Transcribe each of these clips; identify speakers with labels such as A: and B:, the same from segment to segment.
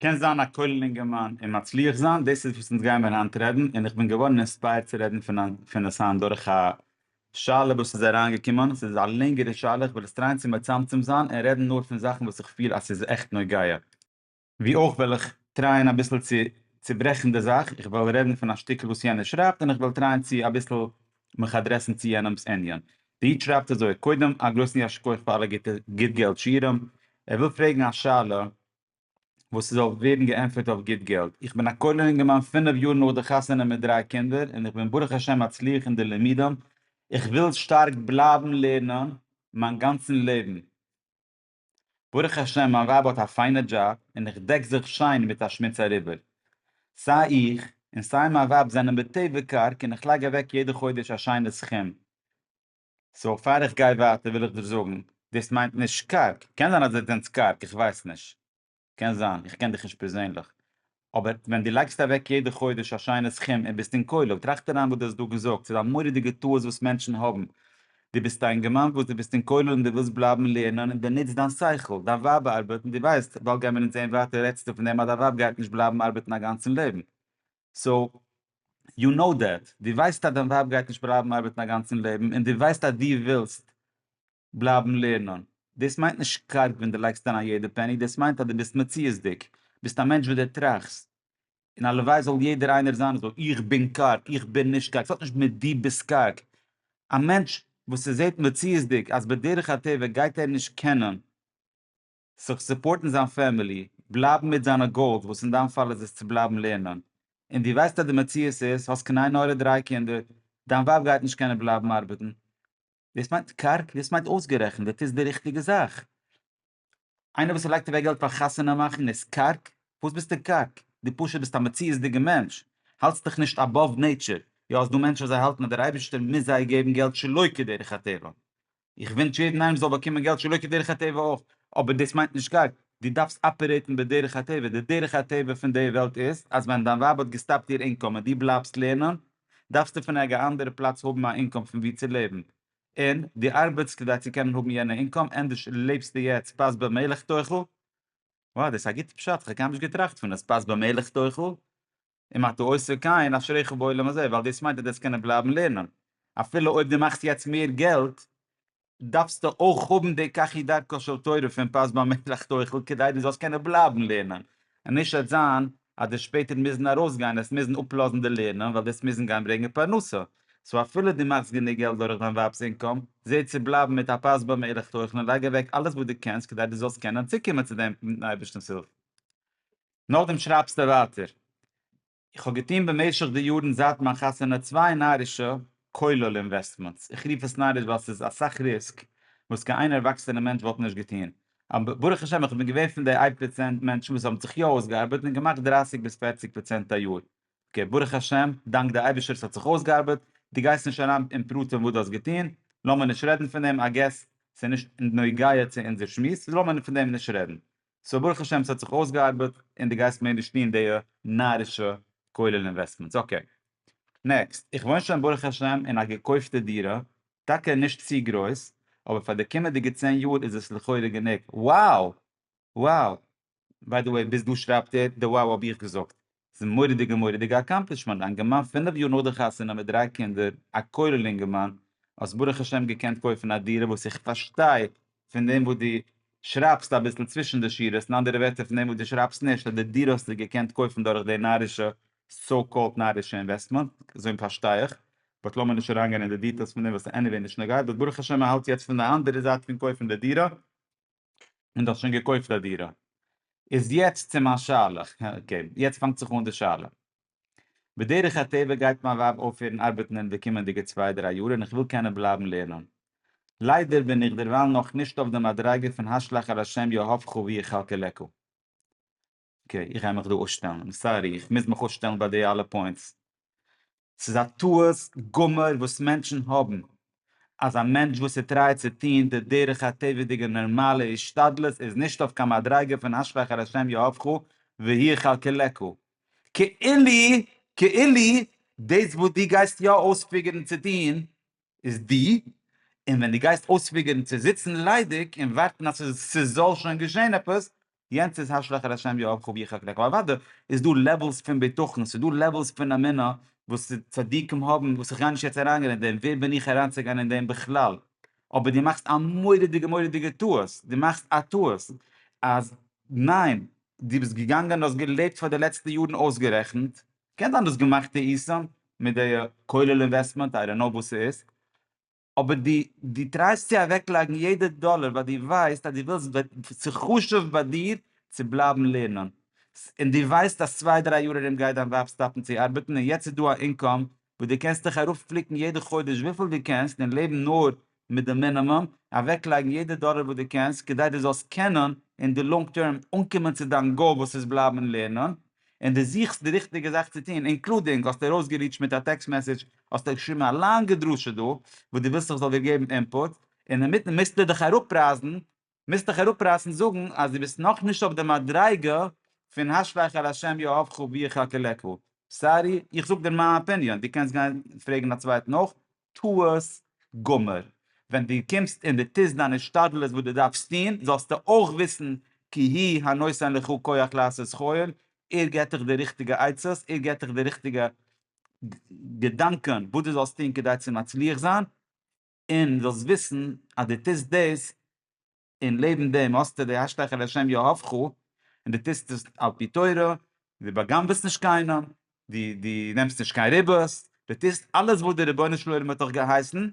A: קענסט זיין א כולל אינגערמאן און מצליח זיין, דאס איז וואס אונז גיימיר היינט רעדן, און איך בין געווארן אינספייערט צו רעדן פון עס היינט דורך א שאלה וואס איז אריינגעקומען, עס איז א לענגערע שאלה, איך וועל עס טרייען צו מצמצם זיין און רעדן נאר פון זאכן וואס איך פיל אז ס'איז עכט נוגע. ווי אויך וועל איך טרייען אביסל צו צוברעכן די זאך, איך וועל רעדן פון א שטיקל וואס יענער שרייבט און איך וועל טרייען צו אביסל מיך אדרעסן צו יענעמ'ס ענין. די איד שרייבט אזוי, קודם א גרויסן יישר כח פאר אלע גוטע גוט געלט שיעורים. ער וויל פרעגן א שאלה וואס ס'זאל ווערן געענטפערט אויף גוט געלט. איך בין א כולל אינגערמאן פינף יאר נאך די חתונה מיט דריי קינדער און איך בין ברוך השם מצליח אין די לימודים. איך וויל שטארק בלייבן לערנען מיין גאנצן לעבן. ברוך השם מיין ווייב האט א פיינע דזשאב און איך דעק זיך שיין מיט א שמוץ אריבער. סיי איך און סיי מיין ווייב זענען בטבע קארג און איך לייג אוועק יעדע חודש א שיינע סכום. סאו פאר איך גיי ווייטער וויל איך דיר זאגן, דאס מיינט נישט קארג, קען זיין אז דו זענסט קארג, איך ווייס נישט. קען זיין, איך קען דיך נישט פערזענליך, אבער ווען דו לייגסט אוועק יעדע חודש א שיינע סכום און ביסט אין כולל, טראכט אריין וואס דו האסט דא געזאגט, ס'איז א מורא'דיגע טעות וואס מענטשן האבן, דו ביסט א אינגערמאן וואס דו ביסט אין כולל און דו ווילסט בלייבן לערנען און דו נוצט דיין שכל, דיין ווייב ארבעט און דו ווייסט, באלד גיימיר אונז זעהן ווייטער, רעדסטו פון דעם אז דיין ווייב גייט נישט בלייבן ארבעטן א גאנצן לעבן, סאו, יו קנאו דעט, דו ווייסט אז דיין ווייב גייט נישט בלייבן ארבעטן א גאנצן לעבן און דו ווייסט אז דו ווילסט בלייבן לערנען. דאס מיינט נישט קארג ווען דו לייגסט אריין א יעדע פעני, דאס מיינט אז דו ביסט מציאות'דיג, ביסט א מענטש וואס דו טראכסט, און הלוואי זאל יעדער איינער זיין אזוי, איך בין קארג, איך בין נישט קארג, ס'האט נישט מיט דו ביסט קארג, א מענטש וואס ס'זעט מציאות'דיג אז בדרך הטבע גייט ער נישט קענען זיך סופארטן זיין פעמילי, בלייבן מיט זיינע גאולס וואס אין דיין פאל איז עס צו בלייבן לערנען, און דו ווייסט אז די מציאות איז האסט קנאי נאר דרײַ קינדער, דיין ווייב גייט נישט קענען בלייבן ארבעטן, וואס מיינט קארג? וואס מיינט אויסגערעכנט? דאס איז די ריכטיגע זאך. איינער וואס לייגט אוועק געלט פאר חתונה מאכן איז קארג? פארוואס ביסטו קארג? דו פשוט ביסט א מציאות'דיגע מענטש, האלטסט דיך נישט אבאוו נעיטשער. יא, עס איז דא מענטשן וואס זיי האלטן אז דער אייבערשטער מוז זיי געבן געלט שלא כדרך הטבע. איך ווינטש יעדן איינעם זאל באקומען געלט שלא כדרך הטבע אויך, אבער דאס מיינט נישט קארג. דו דארפסט אפערעיטן בדרך הטבע. די דרך הטבע פון די וועלט איז אז ווען דיין ווייב האט געסטאפט איר אינקאם און דו בלייבסט לערנען, דארפסטו פון ערגער אנדערע פלאץ האבן א אינקאם פון ווי צו לעבן, און דו ארבעטסט כדי צו קענען האבן יענע אינקאם, ענדערש לעבסטו יעצט פת במלח תאכל, וואו דאס איז א גוטע פשט, כ'האב קיינמאל נישט געטראכט פון עס, פת במלח תאכל, אם אתה עוסק כן אשריך בעולם הזה, ווייל דאס מיינט אז דו וועסט קענען בלייבן לערנען, אפילו אויב דו מאכסט יעצט מער געלט, דארפסטו אויך האבן די קחי דרכו של תורה פון פז ב מלך תוכל כדי דו זאלסט קענען בלייבן לערנען און נישט עס זיין אז די שפעטער מוזן ארויסגיין עס מוזן אפלאזן די לערנען ווייל דאס מוזן גיין ברענגען פרנסה סאו אפילו דו מאכסט גענוג געלט דורך דיין ווייב'ס אינקאם זע צו בלייבן מיט א פז ב מלך תוכל און לייג אוועק אלעס וואס דו קענסט כדי דו זאלסט קענען צוקומען צו דעם מיטן אייבערשטנ'ס הילף נאכדעם שרייבסטו ווייטער איך האב געטון במשך די יארן זייט מיין חתונה צוויי נארישע, כולל אינוועסטמענטס, איך רוף עס נאריש ווייל ס'איז אסאך ריסק וואס קיין איין ערוואקסענע מענטש וואלט נישט געטון, אבער ברוך השם איך בין געווען פון די איי פראצענט מענטשן וואס האבן זיך יא אויסגעארבעט און געמאכט דרייסיג ביז פערציג פראצענט א יאר, אקעי ברוך השם, דאנק די אייבישטער ס'האט זיך אויסגעארבעט, דו גייסט נישט אריין אין פרטים וואס דו האסט געטון, לאמיר נישט רעדן פון דעם, איי געס ס'איז נישט נוגע צו אונזער שמועס, לאמיר פון דעם נישט רעדן. סאו ברוך השם ס'האט זיך אויסגעארבעט און די גייסט מער נישט טוהן דיע נארישע כולל אינוועסטמענטס אקעי. נעקסט, איך וואוין שוין ברוך השם אין א געקויפטע דירה, טאקע נישט צו גרויס, אבער פאר די קומענדיגע צען יאר איז עס לכאורה גענוג. wow! wow! ביי די וועי ביז דא שרייבט ער די wow האב איך געזאגט. ס'איז מורא'דיגע מורא'דיגע אקאמפלישמענט, דיין געמאן פינף יאר נאך די חתונה מיט דריי קינדער, א כולל אינגערמאן, האסט ברוך השם געקענט קויפן א דירה וואס איך פארשטיי פון דעם וואס דו שרייבסט אביסל צווישן די שורות, אין אנדערע ווערטער פון דעם וואס דו שרייבסט נישט אז די דירה האסטו געקענט קויפן דורך די נארישע, סאו קאלד נארישע, אינוועסטמענט, אזוי פארשטיי איך, באט לאמיר נישט אריין גיין אין די דיטעילס פון דעם וואס ס'עניוועי נישט נוגע, באט ברוך השם מ'האלט יעצט פון די אנדערע זייט פון קויפן די דירה, און דו האסט שוין געקויפט א דירה. איז יעצט צו מיין שאלה, אקעי, יעצט פאנגט זיך אן די שאלה. בדרך הטבע גייט מיין ווייב אויפהערן ארבעטן אין די קומענדיגע צוויי דריי יאר און איך וויל קענען בלייבן לערנען. ליידער בין איך דערווייל נאכנישט אויף די מדריגה פון השלך על השם יאהבך ויחלקלקו. אקעי איך גיי מיך דא אויסשטעלן, איים סארי איך מוז מיך אויסשטעלן ביי די אלע פוינטס, ס'איז א טעות גמור וואס מענטשן האבן, אז א מענטש וואס איז טרייעט צו טוהן די דרך הטבע'דיגע נארמאלע השתדלות איז נישט אויף קיין מדריגה פון אשרי אחר ה' יאהבך והי' כלכלך, כאילו כאילו דאס וואס דו גייסט יא אויספיגערן צו טוהן איז דו, און ווען דו גייסט אויספיגערן צו זיצן ליידיג און ווארטן אז ס'זאל שוין געשעהן עפעס יענץ איז השלך על השם יואב כו יחק לך, אוודאי איז דא לעוועלס פון בטחון, ס'איז דא לעוועלס פון אמונה וואס צדיקים האבן וואס איך גיי נישט יעצט אריינגיין אין דעם, ווער בין איך אריינצוגיין אין דעם בכלל, אבער דו מאכסט א מורא'דיגע מורא'דיגע טעות, דו מאכסט א טעות אז ניין, דו ביסט געגאנגען און האסט געלעבט פאר די לעצטע יארן אויסגערעכנט, קען זיין דו האסט געמאכט טעותים מיט די כולל אינוועסטמענט, איי דאנט נאו וואס ס'איז, אבער דו דו טרייסט צו אוועקלייגן יעדע דאלער ווייל דו ווייסט אז דו ווילסט וועט ס'איז חשוב ביי דיר צו בלייבן לערנען און דו ווייסט אז צוויי דריי יאר ארום גייט דיין ווייב סטאפן צו ארבעטן און יעצט איז דא א אינקאם וואס דו קענסט דיך ארויפפליקן יעדע חודש וויפיל דו קענסט און לעבן נאר מיט די מינימום אוועקלייגן יעדע דאלער וואס דו קענסט כדי דו זאלסט קענען אין די לאנג טערם אנקומען צו דיין גאול וואס איז בלייבן לערנען און דו זוכסט די ריכטיגע זאך צו טון, אינקלודינג האסטו ארויסגעריטשט מיט א טעקסט מעסעדזש, האסטו געשריבן א לאנגע דרשה דא, וואס דו ווילסט איך זאל דיר געבן אינפוט, און אינמיטן מוזטו דיך אראפרייסן, מוזט דיך אראפרייסן זאגן אז דו ביסט נאכנישט אויף די מדריגה פון השלך על השם יאהבך ויחכה לך. סארי, איך זאג דיר מיין אפיניאן, דו קענסט גיין פרעגן א צווייטן אויך, טעות גמור, ווען דו קומסט און דו טוסט דיין השתדלות וואס דו דארפסט טון, זאלסטו אויך וויסן כי הוא הנותן לך כח לעשות כל, ער געבט דיך די ריכטיגע עצות, ער געבט דיך די ריכטיגע געדאנקען וואס דו זאלסט טון כדי צו מצליח זיין, און זאלסט וויסן אז דו טוסט דאס און לעבן דעם האסטו די השתייכות לשם יהוה ח, און דו טוסט עס על פי תורה, דו בא'גנב'עסט נישט קיינעם, דו דו נעמסט נישט קיין ריבית, דו טוסט אלעס וואס דער רבונו של עולם האט דיך געהייסן,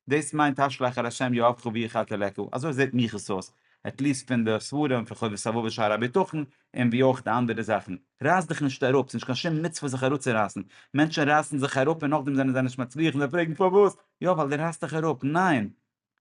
A: דאס מיינט השתייכות לשם יהוה ח והיא חטא ל ק, אזוי זעט מיך עס אויס, עט ליעסט פון די ספרים פון חובת הלבבות שער הביטחון, און ווי אויך די אנדערע זאכן. רייס דיך נישט אראפ, ס'נישט קיין שום מצוה זיך אראפצורייסן, מענטשן רייסן זיך אראפ און נאכדעם זענען זיי נישט מצליח און זיי פרעגן פארוואס, יא ווייל דו רייסט דיך אראפ, ניין!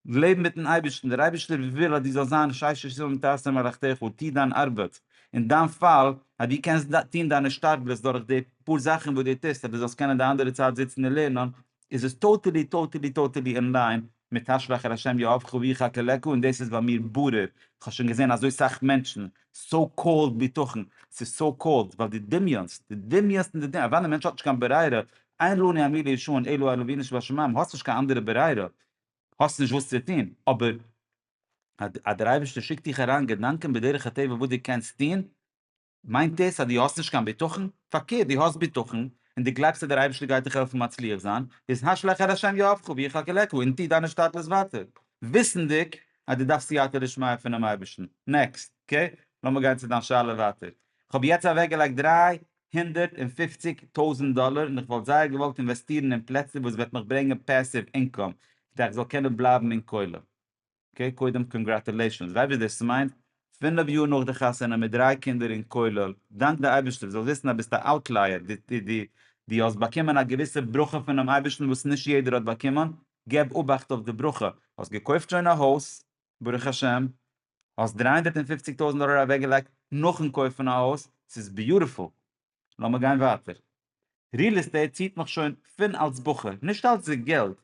A: לעב מיט'ן אייבערשטן, דער אייבערשטער וויל אז דו זאלסט זיין שש ישרים ותעשה מלאכתך, טו דיין ארבעט, אין דיין פאל אז דו קענסט טון דיין השתדלות דורך די פאר זאכן וואס דו טוסט אז דו זאלסט קענען די אנדערע צייט זיצן און לערנען, איז עס טאטעלי טאטעלי טאטעלי אין ליין מיט השלך על ה' יאהבך ויחכה לך, און דאס איז ביי מיר ברור, איך האב שוין געזען אזוי סאך מענטשן, סאו קאלד ביטחון, ס'איז סאו קאלד ווייל דו דמיונסט, דו דמיונסט און דו דמיונסט, אוודאי דער מענטש האט נישט קיין ברירה, אין לנו אלא לישון, אלא על אבינו שבשמים, האסט נישט קיין אנדערע ברירה, האסט נישט וואס צו טון, אבער אז דער אייבערשטער שיקט דיך אריין געדאנקען בדרך הטבע וואס דו קענסט טון, מיינט דאס אז דו האסט נישט קיין בטחון? פארקערט, דו האסט בטחון, און דו גלייבסט אז דער אייבערשטער גייט דיך העלפן מצליח זיין, איז הש לך אל ה' יהבך ויחכה לך, און טו דיינע שטאפלעס ווייטער, וויסנדיג אז דו דארפסט סייעתא דשמיא פונעם אייבערשטן. נעקסט, אקעי? לאמיר גיין צו דיין שאלה ווייטער. איך האב יעצט אוועקגעלייגט דריי הונדערט און פופציג טויזענט דאלער און איך וואלט זייער געוואלט אינוועסטירן אין פלעצער וואס וועט מיך ברענגען פעסיוו אינקאם כדי איך זאל קענען בלייבן אין כולל. אקעי קודם קאנגראטולעישאנס, ווייס וואס דאס מיינט, פינף יאר נאך די חתונה מיט דריי קינדער אין כולל, דאנק די אייבערשטער, זאלסט וויסן אז ביסט א אוטלייער, די די האסט באקומען א געוויסע ברכה פונעם אייבערשטן וואס נישט יעדער האט באקומען, געב אובאכט אויף די ברכה, האסט געקויפט שוין א הויז, ברוך השם, האסט דרײַ הונדערט און פֿופֿציק טויזנט דאלער אוועקגעלייגט נאכן קויפן א הויז, ס'איז ביוטיפול, לאמיר גיין ווייטער. ריעל עסטעיט ציט מיך שוין פון אלס בחור, נישט אלס די געלט,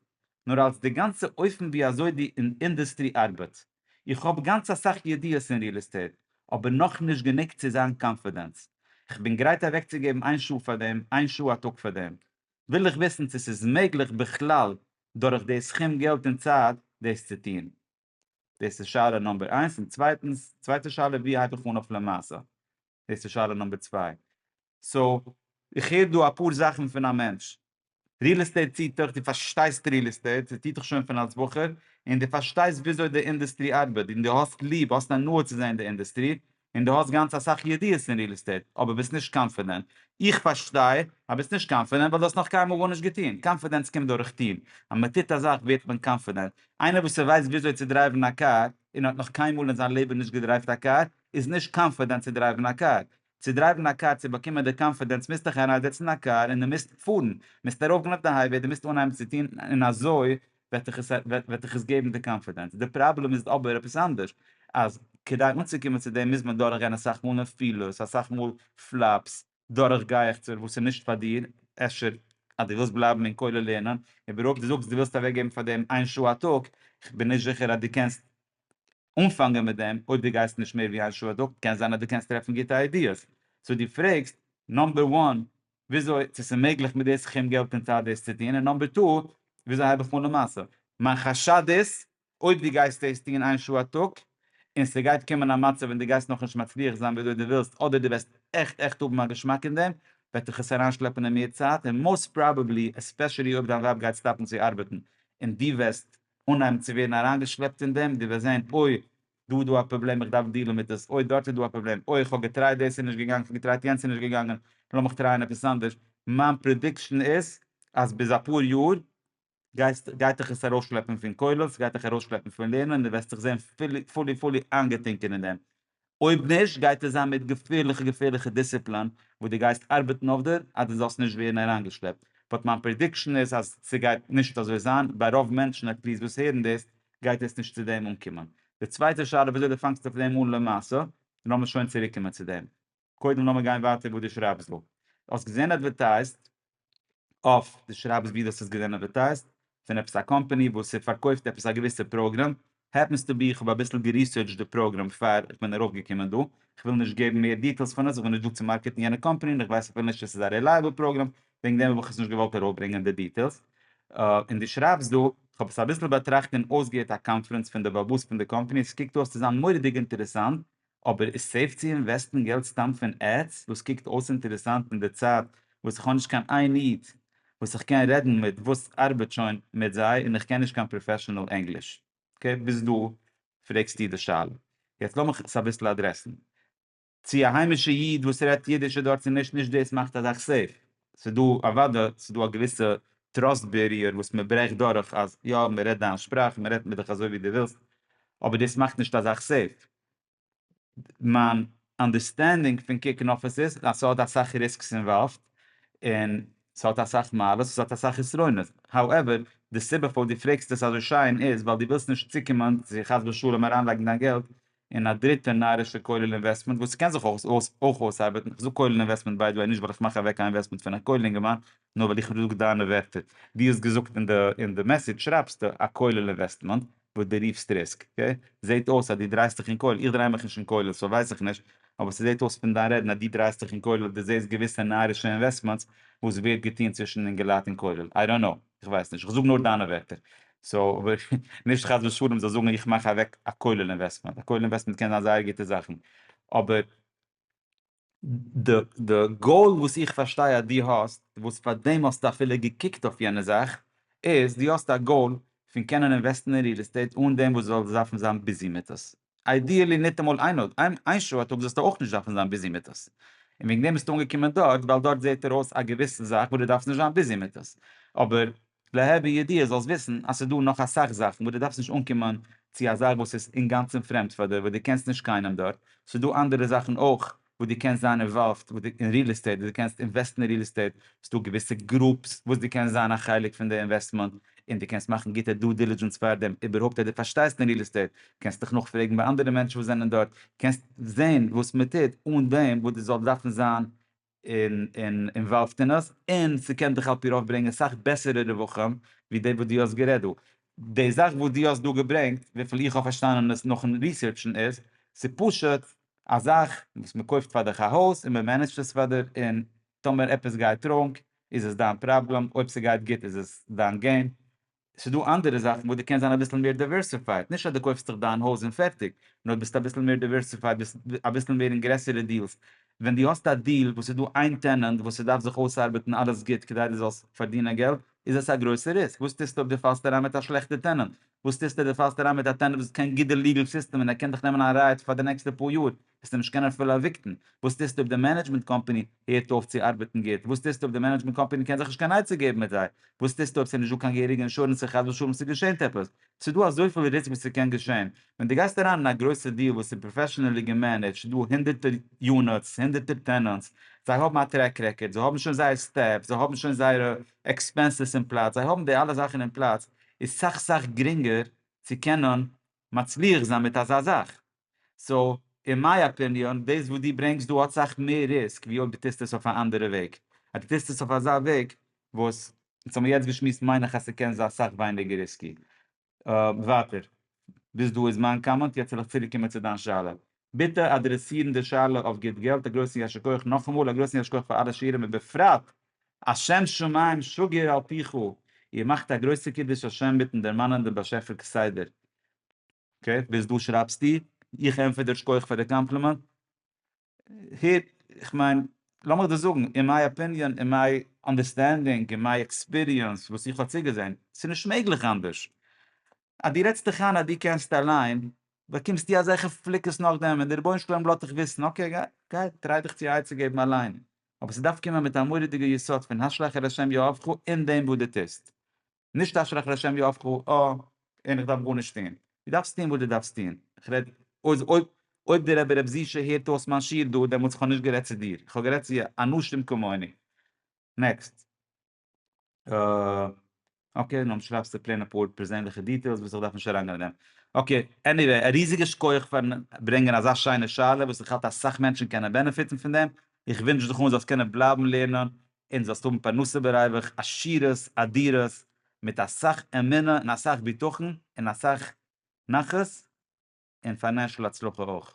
A: נאר אלס די גאנצע אופן ווי אזוי די אינדעסטרי ארבעט. איך האב גאנץ אסאך ידיעות אין ריעל עסטעיט, אבער נאכנישט גענוג צו זיין קאנפידענס. כ'בין גרייט אוועקצוגעבן איין שעה פאר דעם, איין שעה א טאג פאר דעם. וויל איך וויסן צו ס'איז מעגליך בכלל דורך די סכום געלט און צייט דאס צו טון. דאס איז שאלה נומבער איינס, און צווייטנס, צווייטע שאלה ווי הייב איך אן אויף למעשה, דאס איז שאלה נומבער צוויי. סאו, איך הער דא אפאר זאכן פון א מענטש, ריעל עסטעיט ציט דיך, דו פארשטייסט ריעל עסטעיט, ס'ציט דיך שוין פון אלס בחור, און דו פארשטייסט וויאזוי די אינדעסטרי ארבעט, און דו האסט ליב, האסט הנאה צו זען די אינדעסטרי, און דו האסט גאנץ אסאך ידיעות אין ריעל עסטעיט אבער ביסט נישט קאנפידענט, איך פארשטיי אז ביסט נישט קאנפידענט ווייל דו האסט נאך קיינמאל גארנישט געטון, קאנפידענץ קומט דורך טון, אז מען טוט א זאך ווערט מען קאנפידענט, איינער וואס ווייסט וויאזוי צו דרייוון א קאר און האט נאך קיינמאל אין זיין לעבן נישט געדרייווט א קאר איז נישט קאנפידענט צו דרייוון א קאר, צו דרייוון א קאר צו באקומען די קאנפידענץ מוזט דיך אריינזעצן אין א קאר און דו מוזט פארן, מוזט ארויפגיין אויף די הייוועי, דו מוזט אנהייבן צו טון און אזוי וועט דיך עס וועט דיך עס געבן די קאנפידענס, די פראבלעם איז אבער עפעס אנדערש, אז כדי אנצוקומען צו דעם מוז מען דורך גיין אסאך מאל נפילות, אסאך מאל פלאפס, דורך גייעכצער וואס איז נישט פאר דיר, אפשר אז דו ווילסט בלייבן אין כולל לערנען, אבער אויב דו זאגסט דו ווילסט אוועק געבן פאר דעם איין שעה א טאג, כ'בין נישט זיכער אז דו קענסט אנפאנגען מיט דעם, אויב דו גייסט נישט מער ווי איין שעה א טאג, קען זיין אז דו קענסט טרעפן גוטע איידיעס, סאו דו פרעגסט נאמבער וואן וויאזוי צו ס'איז מעגליך מיט די סכום געלט אין צייט דאס צו טון, און נאמבער טו, וויאזוי הייב איך אן די מעשה. מיין חשד איז, אויב דו גייסט דאס טון איין שעה א טאג, און ס'גייט קומען א מצב ווען דו גייסט נאכנישט מצליח זיין וויאזוי דו ווילסט, אדער דו וועסט עכט עכט האבן א געשמאק אין דעם, וועט דיך עס אריינשלעפן אין מער צייט, און מאוסט פראבעבלי, עספעשעלי אויב דיין ווייב גייט סטאפן צו ארבעטן, און דו וועסט אנהייבן צו ווערן אריינגעשלעפט אין דעם, דו וועסט זען, אוי, דא איז דא א פראבלעם איך דארף דיעלן מיט עס, אוי דארט איז דא א פראבלעם, אוי איך האב געטרייט דאס איז נישט געגאנגען, איך האב געטרייט יענץ איז נישט געגאנגען, לאמיך טרייען עפעס אנדערש, מיין פרעדיקשן איז אז ביז אפאר יאר גייסט גייט דיך עס ארויסשלעפן פון כולל, ס'גייט דיך ארויסשלעפן פון לערנען און דו וועסט דיך זען פולי פולי פולי איינגעטינקען אין דעם, אויב נישט גייט עס זיין מיט געפערליכע געפערליכע דיסציפלאן וואס דו גייסט ארבעטן אויף דיר אז דו זאלסט נישט ווערן אריינגעשלעפט, באט מיין פרעדיקשן איז אז ס'גייט נישט אזוי זיין, ביי רוב מענטשן עטליעסט וואס הערן דאס גייט עס נישט צו דעם אנקומען. די צווייטע שאלה וויאזוי די פאנגסט אויף דעם אן למעשה, און לאמיר שוין צוריק קומען צו דעם. קודם לאמיר גיין ווייטער וואס דו שרייבסט דא. האסט געזען אדווערטייזט אויף, דו שרייבסט ווי דו האסט עס געזען אדווערטייזט, פון עפעס א קאמפאני וואס פארקויפט עפעס א געוויסע פראגרעם, העפענס טו בי איך האב אביסל געריסערטשט די פראגרעם פאר איך בין ארויף געקומען דא, איך וויל נישט געבן מער דיטעילס פון עס, איך בין נישט דא צו מארקעטן יענע קאמפאני און איך ווייס אפילו נישט צו עס איז א רעלייעבל פראגרעם, וועגן דעם האב איך עס נישט געוואלט ארויפברענגען די דיטעילס, און דו שרייבסט דא, איך האב עס אביסל באטראכט און אויסגעהערט א קאנפרענץ פון די באבוס פון די קאמפאני, עס קוקט אויס צו זיין מורא'דיג אינטערעסאנט, אבער איז סעיף צו אינוועסטן געלט סתם פון עדס, וואס קוקט אויס אינטערעסאנט אין די צייט וואס איך האב נישט קיין איין איד וואס איך קען רעדן מיט וואס ארבעט שוין מיט זיי און איך קען נישט קיין פראפעשענעל ענגליש, אקעי ביז דא פרעגסטו די שאלה, יעצט לאמיך עס אביסל אדרעסן. צו א היימישע איד וואס רעדט אידיש איז דארט צו נישט, נישט דאס מאכט א זאך סעיף, ס'איז דא אוודאי ס'איז דא א געוויסע טראסט בעריער וואס מען ברעכט דורך אז יא מען רעדט דיין שפראך מען רעדט מיט דיך אזוי ווי דו ווילסט, אבער דאס מאכט נישט א זאך סעיף, מיין אנדערסטענדינג פון קוקן אויף עס איז אז ס'האט אסאך ריסקס אינוואלווד און ס'האט אסאך מעלות ס'האט אסאך חסרונות, האועווער די סיבה פארוואס דו פרעגסט עס אזוי שיין איז ווייל דו ווילסט נישט צוקומען צו חס ושלום אריינלייגן דיין געלט און א דריטע נארישע כולל אינוועסטמענט וואס קען זיך אויך אויסארבעטן, כ'זאג כולל אינוועסטמענט ביי די וועי נישט ווייל איך מאך אוועק א אינוועסטמענט פון א כולל אינגערמאן, נאר ווייל איך זאג דיינע ווערטער, דו האסט געזאגט אין די מעסעדזש שרייבסטו א כולל אינוועסטמענט וואס דו רופסט ריסק, זעהט אויס אז דו דרייסט דיך אין כולל, איך דריי מיך נישט אין כולל סאו ווייס איך נישט, אבער ס'זעהט אויס פון דיין רעדן אז דו דרייסט דיך אין כולל, דו זעהסט געוויסע נארישע אינוועסטמענטס וואס ווערט געטוהן צווישן אינגעלייט אין כולל, איי דאנט קנאו. איך ווייס נישט, איך זאג נאר דיינע ווערטער, סאו נישט חס ושלום זאלסט זאגן איך מאך אוועק א כולל אינוועסטמענט, א כולל אינוועסטמענט קען זיין זייער גוטע זאכן, אבער די גאול וואס איך פארשטיי אז דו האסט, וואס פאר דעם האסטו אפילו געקוקט אויף יענע זאך, איז דו האסט א גאול פון קענען אינוועסטן אין ריעל עסטעיט אן דעם וואס דו זאלסט דארפן זיין ביזי מיט עס. איידיעלי ניטאמאל איין נאט, איין שעה א טאג זאלסטו אויך נישט דארפן זיין ביזי מיט עס, און וועגן דעם ביסטו אנגעקומען דארט ווייל דארט זעט ער אויס א געוויסע זאך וואס דו דארפסט נישט זיין ביזי מיט עס, אבער לה' בידיעה זאלסט וויסן אז ס'איז דא נאך אסאך זאכן וואס דו דארפסט נישט אנקומען צו א זאך וואס איז אינגאנצן פרעמד פאר דיר וואס דו קענסט נישט קיינעם דארט, ס'איז דא אנדערע זאכן אויך וואס דו קענסט זיין אינוואלווד אין ריעל עסטעיט, וואס דו קענסט אינוועסטן אין ריעל עסטעיט, ס'איז דא געוויסע גרופס וואס דו קענסט זיין א חלק פון די אינוועסטמענט, און דו קענסט מאכן גוטע דו דילידזשענס פארדעם איבערהויפט אז דו פארשטייסט אין ריעל עסטעיט, קענסט דיך נאכפרעגן ביי אנדערע מענטשן וואס זענען דארט, קענסט זען וואס מען טוט אן דעם וואס דו זאלסט דארפן זיין אינוואלווד אין עס, און ס'קען דיך על פי רוב ברענגען סאך בעסערע רווחים ווי די וואס דו האסט גערעדט דא. די זאך וואס דו האסט דא געברענגט, וויפיל איך האב פארשטאנען עס נאכן ריסערטשן איז, ס'פשוט א זאך וואס מען קויפט פאר דיך א הויז און מען מענעדזשט עס פאר דיר און טאמער עפעס גייט ראנג איז עס דיין פראבלעם אויב ס'גייט גוט איז עס דיין געין. ס'איז דא אנדערע זאכן וואס דו קענסט זיין אביסל מער דעווערסיפייד, נישט אז דו קויפסט דיך דיין הויז און פערטיג, נאר ביסט אביסל מער דעווערסיפייד, ביסט אביסל מער אין גרעסערע דיעלס, ווען דו האסט א דיעל וואס איז דא איין טענענט וואס ס'דארף זיך אויסארבעטן אלעס גוט כדי דו זאלסט פארדינען געלט, איז עס א גרויסע ריסק, וואס טוסטו אויב דו פאלסט אריין מיט א שלעכטע טענענט, וואס טוסטו? דו פאלסט אריין מיט א טענעט וואס האט קיין גוטע ליגעל סיסטעם און ער קען דיך נעמען א רייט פאר די נעקסטע פאר יאר, וועסטו נישט קענען אפילו עוויקטן, וואס טוסטו אויב די מענעדזשמענט קאמפאני הערט אויף צו ארבעטן גוט, וואס טוסטו אויב די מענעדזשמענט קאמפאני קען זיך נישט קיין עצה געבן מיט זיי, וואס טוסטו אויב ס'איז נישטא קיין געהעריגע אינשורענס און חס ושלום ס'געשענט עפעס, ס'דא אזויפיל ריסק וואס ס'קען געשען, ווען דו גייסט אריין אין א גרויסע דיעל וואס איז פראפעשענעלי געמענעדזשט, דא הונדערטער יוניטס, הונדערטער טענענטס, זיי האבן א טרעק רעקארד, זיי האבן שוין זייער סטעף, זיי האבן שוין זייערע עקספענסעס אין פלאץ, זיי האבן די אלע זאכן אין פלאץ, איז סאך סאך גרינגער צו קענען מצליח זיין מיט אזא זאך, סאו אין מיי אפיניאן דאס וואס דו ברענגסט דא האט סאך מער ריסק ווי אויב דו טוסט עס אויף א אנדערע וועג, אז דו טוסט עס אויף אזא וועג וואס אונז האבן יעצט געשמועסט מיין איך אז ס'קען זיין סאך ווייניגער ריסקי. ווייטער. ביז דא איז מיין קאמענט, יעצט וועל איך צוריקקומען צו דיין שאלה. ביטע אדרעסירן די שאלה אויף גוט געלט, א גרויסן יישר כח נאכאמאל, א גרויסן יישר כח פאר אלע שיעורים ובפרט אז שם שמים שגר על פיך, איר מאכט א גרויסע קידוש השם מיטן דערמאנען דעם באשעפער כסדר. אקעי, ביז דא שרייבסטו, איך ענטפער דיר שכוח פאר די קאמפלימענט, הער, איך מיין, לאמיך דיר זאגן, אין מיי אפיניאן, אין מיי אנדערסטענדינג, אין מיי עקספיריענס, וואס איך האב צוגעזען, ס'איז נישט מעגליך אנדערש, אז דו רעדסט דיך איין אז דו קענסט אליין, באקומסטו אזעלכע פליקעס נאכדעם ווען דער רבונו של עולם לאזט דיך וויסן, אקעי, גיי, טריי דיך צו עצה געבן אליין, אבער ס'דארף קומען מיט א מורא'דיגע יסוד פון השלך על ה' יואבך אין דעם וואס דו טוסט, נישט השלך על ה' יואבך אה, און איך דארף גארנישט טון. דו דארפסט טון וואס דו דארפסט טון, איך רעד אויס אויב אויב דער רבי רב זיע ש הערט אויס מיין שיעור דא, דעמאלטס איך האב נישט גערעדט צו דיר, איך האב גערעדט צו אנוש תמ כמוני. נעקסט. אקעי, נו שרייבסטו פלעין אפאר פערזענליכע דיטעילס וואס איך דארף נישט אריינגיין אין דעם. אקעי, עניוועי, א ריזיגע שכח פארן ברענגען אזא שיינע שאלה וואס איך האלט אסאך מענטשן קענען בענעפיטן פון דעם, איך ווינטש דיך אן זאלסט קענען בלייבן לערנען און זאלסט האבן פרנסה בריווח עשירות אדירות מיט אסאך אמונה און אסאך בטחון און אסאך נחת און פיינענשל הצלחה אויך.